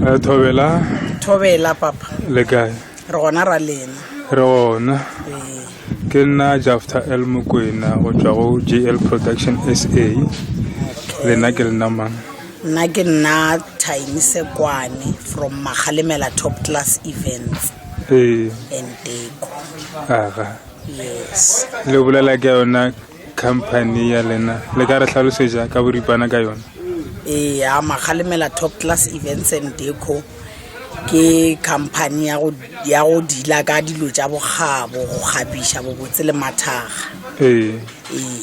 Eh, thobela thobela papa le kae re gona ra lena re gona ee. ke nna jafta l mokwena go tswa go jl production sa lena ke lena mang nna ke nna time sekwane from magalemela top class events ee and deko aga yes le bolela ke yona Company ya lena le ka re hlalosetša ka boripana ka yona? E ya Magalemela Top Class Events and Deco ke company ya go ya go dila ka dilo tša bogabo go kgabiša bobotse le mathaga. Ee. Ee.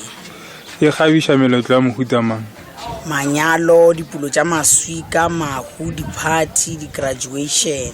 E kgabiša meletlo ya mohuta mang? Manyalo, dipulo tša maswika, mahu, di-party, di-graduation.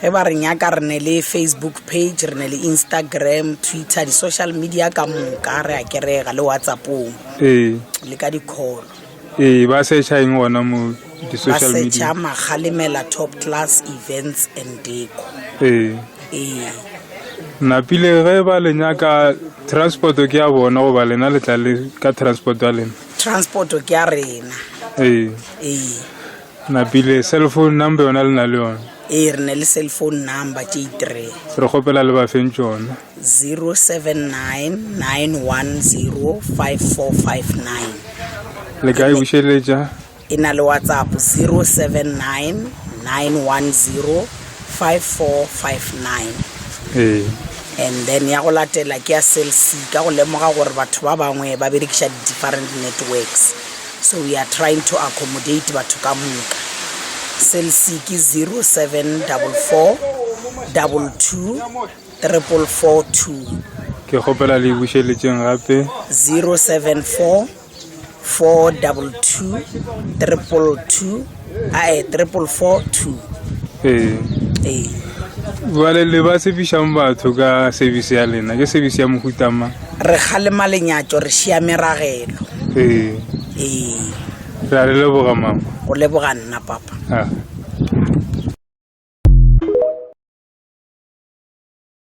Ge ba re nyaka re ne le Facebook page, re ne le Instagram, Twitter, di social media ka moka, re a kerega le WhatsAppong. Ee. Le ka di call. Ee, ba searcha eng gona mo di social media? Ba searcha Magalemela Top Class Events and Deco. Ee. Ee. Napile ge ba le nyaka transport ke ya bona goba lena le tla le ka transport ya lena? Transport ke ya rena. Ee. Ee. Napile cell phone number yona le na le yona ee re ne le cell phone number tše itireng re kgopela le bafeng tšona 0799105459 le ka e bušeletša e na le whatsapp 0799105459 ee and then ya go latela ke ya cell c ka go lemoga gore batho ba bangwe ba berekiša di-different networks So we are trying to accommodate batho ka moka. Cell C ke 0744224442. Ke kgopela le bušeletšeng gape. 0744224442. ae triple four two ee ee bjale le ba sefišang batho ka service ya lena ke service ya mohutama re kgalema lenyatso re šia meragelo ee ee re a re leboga mama o leboga nna papa ah.